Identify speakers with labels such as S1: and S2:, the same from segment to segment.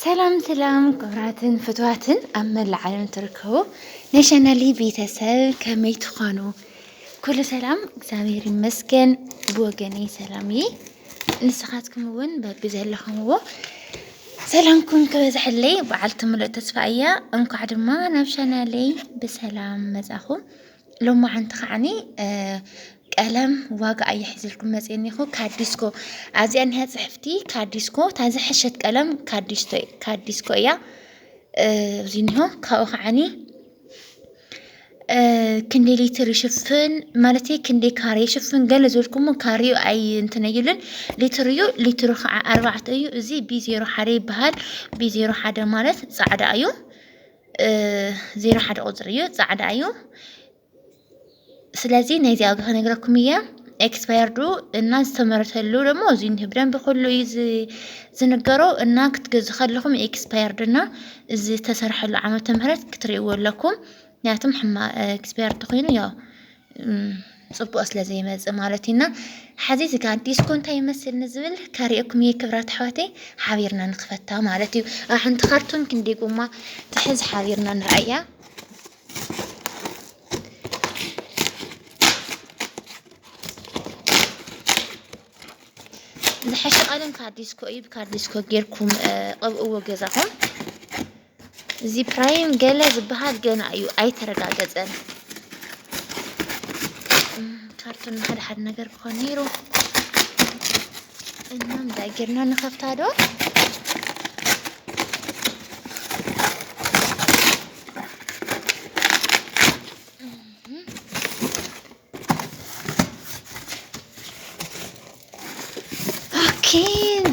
S1: ሰላም ሰላም ክብራትን ፍትዋትን ኣብ መላእ ዓለም ትርከቡ ናይ ቻናሊ ቤተሰብ ከመይ ትኾኑ? ኩሉ ሰላም እግዚኣብሔር ይመስገን። ብወገነይ ሰላም እየ። ንስኻትኩም እውን በቢ ዘለኹምዎ ሰላምኩም ክበዝሐለይ በዓልቲ ሙሉእ ተስፋ እያ። እንኳዕ ድማ ናብ ቻናለይ ብሰላም መጻኹም። ሎማዓንቲ ከዓኒ ቀለም ዋጋ ኣየ ሒዝልኩም መፅየ እኒኹ ካዲስኮ ኣዚኣ እኒሃ ፅሕፍቲ ካዲስኮ እታ ዝሐሸት ቀለም ካዲስኮ እያ እዚ እኒሆ ካብኡ ከዓኒ ክንደይ ሊትር ይሽፍን ማለት ክንደይ ካሬ ይሽፍን ገለ ዝበልኩሞ ካሬኡ ኣይ እንትን እዩልን ሊትር እዩ ሊትሩ ከዓ ኣርባዕተ እዩ እዚ ቢ ዜሮ ሓደ ይበሃል ቢ ዜሮ ሓደ ማለት ፃዕዳ እዩ ዜሮ ሓደ ቁፅሪ እዩ ፃዕዳ እዩ ስለዚ ናይዚ ኣብ ክነግረኩም እየ ኤክስፓየርዱ እና ዝተመረተሉ ደግሞ እዚ ብደንብ ኩሉ እዩ ዝንገሮ እና ክትገዙ ከለኹም ኤክስፓየርድ እና እዚ ዝተሰርሐሉ ዓመተ ምህረት ክትርእይዎ ኣለኩም ምክንያቱም ሕማ ኤክስፓየርድ ኮይኑ ያው ፅቡቕ ስለ ዘይመፅእ ማለት እዩና ሓዚ እዚ ጋ ዲስኮ እንታይ ይመስል ንዝብል ከሪኦኩም እየ ክብራት ኣሕዋተይ ሓቢርና ንክፈታ ማለት እዩ ሓንቲ ካርቱን ክንዲ ጎማ ትሕዝ ሓቢርና ንርኣያ ዝሓሸ ቀለም ካብ ዲስኮ እዩ ካብ ዲስኮ ጌርኩም ቐብእዎ ገዛኹም እዚ ፕራይም ገለ ዝበሃል ገና እዩ ኣይተረጋገፀን። ካርቶን ሓደ ሓደ ነገር ክኾን ነይሩ እና እንታይ ጌርና ንኸፍታ ዶ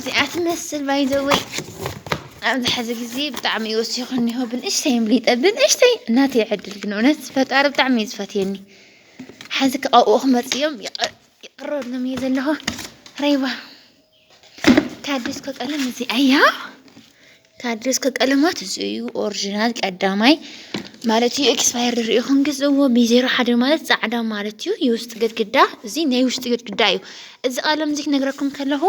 S1: እዚኣ ትመስል ባይዘወይ ኣብዚ ሕዚ ግዜ ብጣዕሚ እዩ ወሲኹ እኒሆ ብንእሽተይ እምሊጠ ብንእሽተይ እናተ ይዕድል ግን እውነት ፈጣሪ ብጣዕሚ እዩ ዝፈትየኒ ሕዚ ከቐብኡ ክመፅኦም ይቕረሎም እየ ዘለኹ ረይባ ታደስኮ ቀለም እዚ ኣያ ታደስኮ ቀለማት እዚ እዩ ኦሪጂናል ቀዳማይ ማለት እዩ ኤክስፓየር ድሪኦ ክንግዝእዎ ብዜሮ ሓደ ማለት ፃዕዳ ማለት እዩ የውስጥ ግድግዳ እዚ ናይ ውሽጢ ግድግዳ እዩ እዚ ቀለም እዚ ክነግረኩም ከለኹ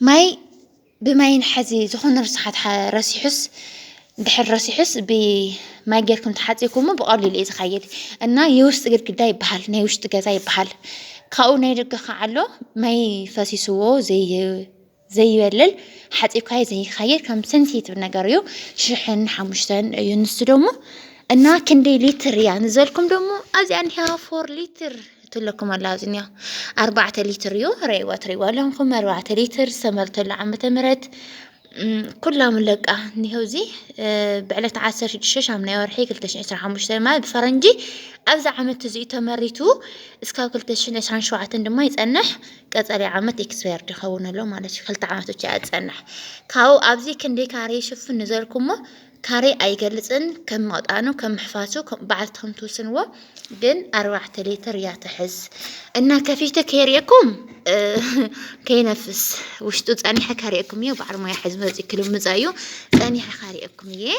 S1: ማይ ብማይን ሐዚ ዝኾነ ርስሓት ረሲሑስ ድሕር ረሲሑስ ብማይ ጌርኩም ተሓፂብኩሞ ብቐሊሉ እዩ ዝኸይድ እና የውሽጢ ግድግዳ ይበሃል ናይ ውሽጢ ገዛ ይበሃል ካብኡ ናይ ደገ ከዓ ኣሎ ማይ ፈሲስዎ ዘይበልል ሓፂብካዮ ዘይካየድ ከም ሰንሴቲቭ ነገር እዩ ሽሕን ሓሙሽተን እዩ ንሱ ደሞ እና ክንደይ ሊትር እያ ንዘልኩም ደሞ ኣብዚኣ እኒሃ ፎር ሊትር ትለኩም ኣላ ዝኒያ ኣርባዕተ ሊትር እዩ ረይዋ ትሪእዋ ኣለኹም ኣርባዕተ ሊትር ዝተመርተሉ ዓመተ ምህረት ኩላም ለቃ እኒሄው እዚ ብዕለት ዓሰርተ ሽዱሽተ ሻምናይ ወርሒ ክልተ ሽሕ ዕስራ ሓሙሽተ ማለት ብፈረንጂ ኣብዚ ዓመት እዚኡ ተመሪቱ እስካብ ክልተ ሽሕ ዕስራን ሸውዓተን ድማ ይፀንሕ ቀፀሊ ዓመት ኤክስፓየርድ ይኸውን ኣሎ ማለት እዩ ክልተ ዓመት ብቻ እያ ዝፀንሕ ካብኡ ኣብዚ ክንደይ ካሬ ይሽፍን ንዘልኩሞ ካሬ ኣይገልጽን ከም መቅጣኑ ከም ምሕፋሱ በዓልቲ ከም ትውስንዎ ግን ኣርባዕተ ሌትር እያ ትሕዝ እና ከፊተ ከይርእኩም ከይነፍስ ውሽጡ ጸኒሐ ካርእኩም እየ በዓል ሞያ ሕዝ መጽ ክልምጻ እዩ ጸኒሐ ካርእኩም እየ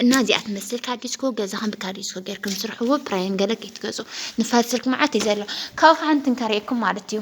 S1: እና እዚኣ ትመስል ካዲስኮ ገዛኻን ብካዲስኮ ጌርኩም ስርሕዎ ፕራይን ገለ ከይትገጹ ንፋት ስልክ መዓት እዩ ዘሎ ካብኡ ከዓ እንትንከርእኩም ማለት እዩ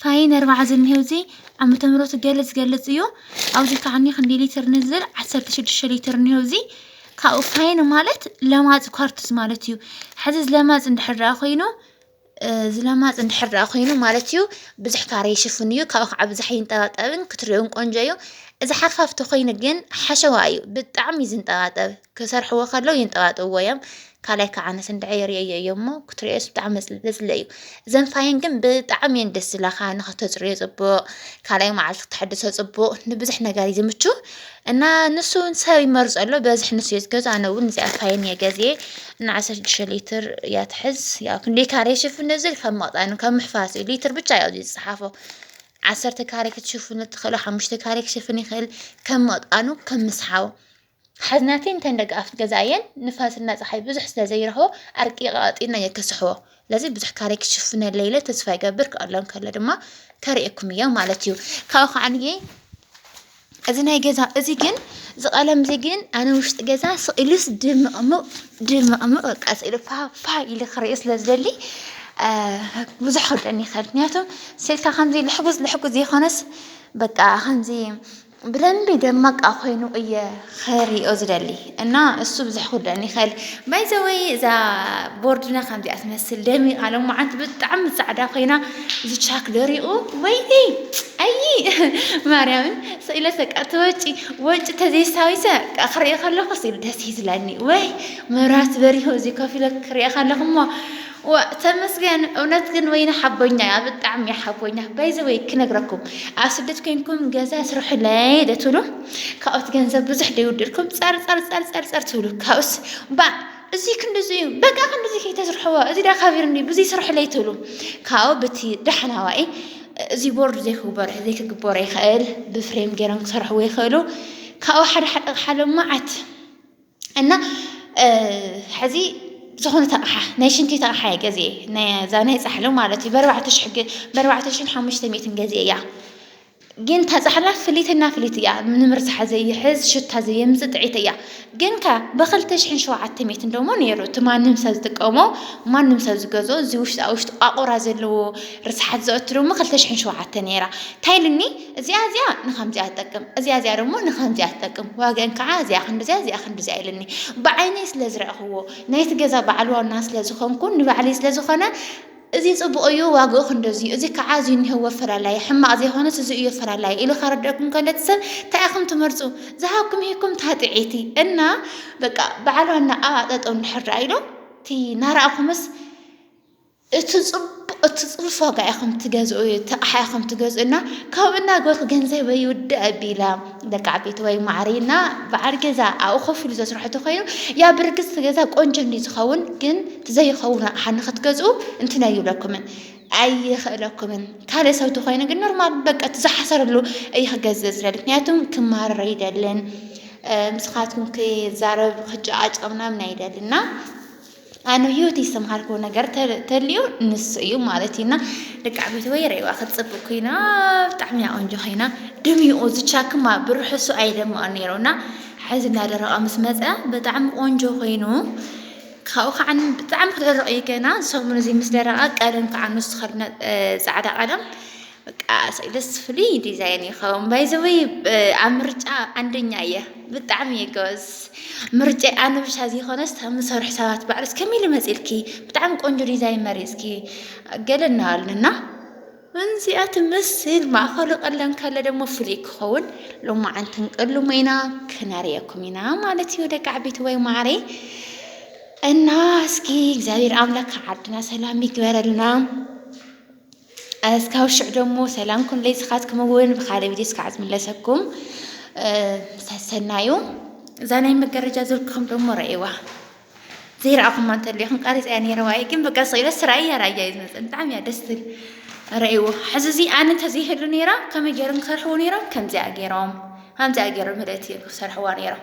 S1: ፋይ ነርባዓ ዝኒሀው እዚ ዓመተ ምህረቱ ገለ ዝገልጽ እዩ ኣብዚ ከዓኒ ክንዲ ሊትር ንዝር 16 ሊትር እኒሀው እዚ ካብኡ ፋይን ማለት ለማፅ ኳርትዝ ማለት እዩ ሕዚ ዝለማፅ እንድሕር ደኣ ኮይኑ እ፣ ዝለማፅ እንድሕር ደኣ ኮይኑ ማለት እዩ ብዙሕ ካሬ ይሽፍን እዩ ካብኡ ከዓ ብዙሕ ይንጠባጠብን ክትሪኦን ቆንጆ እዩ እዚ ሓፋፍቲ ኮይኑ ግን ሓሸዋ እዩ ብጣዕሚ እዩ ዝንጠባጠብ ክሰርሕዎ ከለዉ ይንጠባጥብዎ እዮም ካልኣይ ከዓ ኣነስ እንድዐ የርእየዮ እዮም እሞ ክትሪኦስ ብጣዕሚ ዘፅልእ እዩ እዘን ፋይን ግን ብጣዕሚ እየን ደስ ዝብላካ ንክተፅርዮ ፅቡቅ ካልኣይ መዓልቲ ክትሕድሶ ፅቡቅ ንብዙሕ ነገር እዩ ዝምቹ እና ንሱ እውን ሰብ ይመርፆ ኣሎ በዝሒ ንሱ እዩ ዝገዝኦ ኣነ እውን እዚኣ ፋይን እየ ገዝየ እና ዓሰርተ ሽዱሽተ ሊትር እያ ትሕዝ ያው ክንደይ ካሬ ይሽፍን እዚ ካብ መቕፃኑ ካብ ምሕፋስ እዩ ሊትር ብቻ እዩ ኣብዚ ዝፀሓፎ ዓሰርተ ካሬ ክትሽፍኑ ትኽእሉ ሓሙሽተ ካሬ ክሽፍን ይኽእል ከም መቕጣኑ ከም ምስሓቡ ሓዝናተይን እተን ደገኣፍት ገዛኣየን ንፋስና ጸሓይ ብዙሕ ስለ ዘይረኽቦ ኣርቂቐ ቀጢነ እየ ክስሕቦ። ስለዚ ብዙሕ ካረይ ክሽፍነለይ ኢለ ተስፋ ይገብር ክኣሉ እንከሎ ድማ ከርእየኩም እየ ማለት እዩ። ካብኡ ከዓንየ እዚ ናይ ገዛ እዚ ግን እዚ ቀለም እዚ ግን ኣነ ውሽጢ ገዛ ስኢሉስ ድምቕምቕ ድምቕምቕ በቃ ስኢሉ ፋፋ ኢሉ ክርእዮ ስለ ዝደሊ ብዙሕ ክብደኒ ይኽእል ምክንያቱ ስኢልካ ከምዚ ልሕጉዝ ልሕጉዝ ዘይኮነስ በቃ ከምዚ ብደንቢ ደማቃ ኮይኑ እየ ኸሪኦ ዝደሊ እና እሱ ብዙሕ ክርድኣኒ ይኽእል ባይዘወይ እዛ ቦርድና ከምዚኣ ትመስል ደሚቃ ሎማዓንቲ ብጣዕሚ ፃዕዳ ኮይና እዚ ቻክ ደሪቁ ወይ ኣይ ማርያምን ስኢለሰ ቃ ተወጪ ወጪ ተዘይሳዊሰ ቃ ክሪኦ ከለኹ ስኢሉ ደስ ይዝለኒ ወይ መብራት በሪሁ እዚ ኮፍ ኢለ ክሪኦ ከለኹ እሞ ዋእ ተመስገን እውነት ግን ወይኒ ሓቦኛ እያ ብጣዕሚ እያ ሓቦኛ ባይዘወይ ክነግረኩም ኣብ ስደት ኮይንኩም ገዛ ስርሑለይ ደትብሉ ካብኡት ገንዘብ ብዙሕ ደይውድልኩም ጸርጸርጸርጸርጸር ትብሉ ካብኡስ ባ እዚ ክንዲዚ እዩ በቃ ክንዲዚ ከይተስርሕዎ እዚ ዳ ካቢርኒ ብዙ ይስርሕለይ ትብሉ ካብኡ ብቲ ዳሕናዋኢ እዚ ቦርድ ዘይክግበሮ ዘይክግበሮ ይኽእል ብፍሬም ገይሮም ክሰርሕዎ ይኽእሉ ካብኡ ሓደ ሓደ ኣቕሓ ሎ መዓት እና ሕዚ ዝኾነት ኣቕሓ ናይ ሽንቲት ኣቕሓ እየ ገዚኤ እዛ ናይ ፃሕሊ ማለት እዩ በርባዕተ ሽሕ በርባዕተ ሽሕን ሓሙሽተ ሚእትን ገዚኤ እያ ግን እታ ፃሕላ ፍሊትና ፍሊት እያ ንምርሳሓ ዘይሕዝ ሽታ ዘየምፅ ጥዒት እያ ግን ከ ብክልተ ሽሕን ሸውዓተ ሚእትን ደሞ ነይሩ እቲ ማንም ሰብ ዝጥቀሞ ማንም ሰብ ዝገዞ እዚ ውሽጣ ውሽጢ ቋቑራ ዘለዎ ርስሓት ዘእትርሞ ክልተ ሽሕን ሸውዓተ ነይራ እንታይ ኢሉኒ እዚኣ እዚኣ ንኸምዚኣ ትጠቅም፣ እዚኣ እዚኣ ደሞ ንኸምዚኣ ትጠቅም፣ ዋግኣን ከዓ እዚኣ ክንድዚኣ እዚኣ ክንድዚኣ ኢሉኒ። ብዓይነይ ስለ ዝረእኽዎ፣ ናይቲ ገዛ በዓል ዋና ስለ ዝኾንኩን ንባዕለይ ስለ ዝኾነ እዚ ጽቡቕ እዩ ዋግኡ ክንደዚ እዩ፣ እዚ ከዓ እዚ እኒሀዎ ኣፈላላየ፣ ሕማቕ ዘይኮነስ እዚ እዩ ኣፈላላየ ኢሉ ከረድኣኩም ከሎ እቲ ሰብ እንታይ ኢኹም ትመርጹ? ዝሃብኩም ሂብኩም እታ ጥዕይቲ እና በቃ በዓል ዋና ኣብኣ ጠጠው እንድሕር ደኣ ኢሉ እቲ ናራእኹምስ እቲ ጽቡቅ እቲ ጽፉፍ ዋጋ ኢኹም ትገዝኡ እዩ እቲ ኣቕሓ ኢኹም ትገዝኡ እና ካብኡ እናገበርኩ ገንዘበይ ይውዳእ ኣቢላ ደቂ ዓበይቲ ወይ ማዕሪ እና በዓል ገዛ ኣብኡ ኮፍ ኢሉ ዘስርሖ ተኮይኑ ያ ብርግጽ እቲ ገዛ ቆንጆ እንዲ ዝኸውን ግን ትዘይኸውን ኣቕሓ ንክትገዝኡ እንትን ኣይብለኩምን ኣይኽእለኩምን ካልእ ሰብ ተኮይኑ ግን ኖርማል በቃ እቲ ዝሓሰረሉ እዩ ክገዝእ ዝደሊ ምክንያቱም ክማረር ኣይደልን ምስኻትኩም ክዛረብ ክጨቃጨቅ ምናምን ኣይደልና ኣነ ህይወት ዝተምሃርኩ ነገር ተልዩ ንሱ እዩ ማለት እዩና ደቂ ዓበይቲ ወይ ረይዋ ክትፅብቅ ኮይና ብጣዕሚ እያ ቆንጆ ኮይና ድሚኡ ዝቻክማ ብርሕሱ ኣይደምቀ ነይሩና ሕዚ እናደረቀ ምስ መፀ ብጣዕሚ ቆንጆ ኮይኑ ካብኡ ከዓ ብጣዕሚ ክደረቅ እዩ ገና ሰሙን እዚ ምስ ደረቀ ቀለም ከዓ ንሱ ፃዕዳ ቀለም በቃ ኣሰይ ደስ ፍሉይ ዲዛይን እዩ ከውን ባይዘወይ ኣብ ምርጫ ኣንደኛ እየ ብጣዕሚ እየ ገበዝ ምርጫ ኣነ ብሻ ዘይኮነስ ምሰርሑ ሰባት ባዕሉስ ከመይ ኢሉ መፂልኪ ብጣዕሚ ቆንጆ ዲዛይን መሪፅኪ ገለ እናበሉና እንዚኣ ትመስል ማእኸሉ ቀለም ከለ ደግሞ ፍሉይ ክኸውን ሎማዓንቲ ንቅልሞ ኢና ክነርየኩም ኢና ማለት እዩ ደቂ ዓበይቲ ወይ ማዕረ እና እስኪ እግዚኣብሔር ኣምላክ ዓድና ሰላም ይግበረልና። እስካብ ሽዕ ደሞ ሰላምኩም ለይስኻትኩም እውን ብካልእ ቪድዮ እስካዕ ዝምለሰኩም ሰሰናዩ እዛ ናይ መጋረጃ ዝርክኹም ደሞ ረእዋ ዘይረኣኹማ እንተለኹም ቃሪፅ እያ ነይረዋ እዩ ግን በቃ ስኢለ ስራይ እያ ራእያ እዩ ዝመፅእ ብጣዕሚ እያ ደስ ትብል ረእዎ ሕዚ እዚ ኣነ እንተዘይህሉ ነይራ ከመይ ገይሮም ክሰርሕዎ ነይሮም ከምዚኣ ገይሮም ከምዚኣ ገይሮም ምለት እዮም ክሰርሕዋ ነይሮም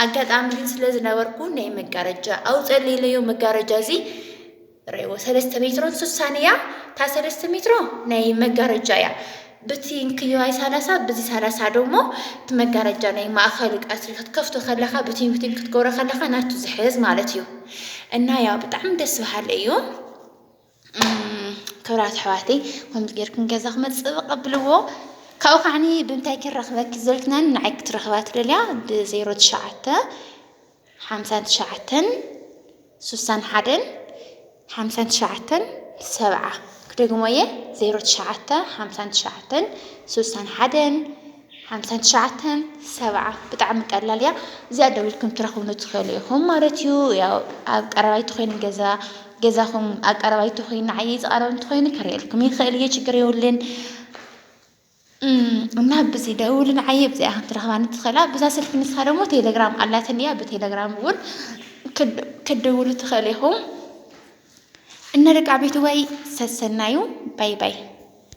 S1: ኣጋጣሚ ግን ስለ ዝነበርኩ ናይ መጋረጃ ኣውፀለይለዮ መጋረጃ እዚ ርኤዎ ሰለስተ ሜትሮን ሱሳን እያ እታ ሰለስተ ሜትሮ ናይ መጋረጃ እያ ብቲ እንክዮይ ሳላሳ ብዚ ሳላሳ ዶሞ እቲ መጋረጃ ናይ ማእኸል ቀትሪ ክትከፍቶ ከለኻ ብቲ ብቲ ክትገብሮ ከለኻ ናቱ ዝሕዝ ማለት እዩ እና ያው ብጣዕሚ ደስ በሃሊ እዩ ክብራት ኣሕዋተይ ከምዚ ጌርኩም ገዛ ክመፅእ ቀብልዎ ካብኡ ከዓኒ ብምንታይ ክንረኽበኪ ዘልክናን ንዓይ ክትረኽባ ትደልያ ብዜሮ ትሽዓተ ሓምሳን ትሽዓተን ሱሳን ሓደን ሓምሳን ትሽዓተን ሰብዓ ክደግሞ እየ ዜሮ ትሽዓተ ሓምሳን ትሽዓተን ሱሳን ሓደን ሓምሳን ትሽዓተን ሰብዓ ብጣዕሚ ቀላል እያ እዚኣ ደዊልኩም ትረኽቡ ንትኽእሉ ኢኹም ማለት እዩ ያው ኣብ ቀረባይቲ ኮይኑ ገዛ ገዛኹም ኣብ ቀረባይቲ ኮይኑ ንዓይ ዝቐረብ እንተኮይኑ ክርእየልኩም ይኽእል እየ ችግር የብሉን እና ብዚ ደውልን ዓየ ብዚኣ ከም ትረኽባኒ ትኽእላ ብዛ ስልኪ ንስኻ ደግሞ ቴሌግራም ኣላትን እያ ብቴሌግራም እውን ክትደውሉ ትኽእል ኢኹም እና ደቂ ዓበይቲ ወይ ሰሰናዩ ባይ ባይ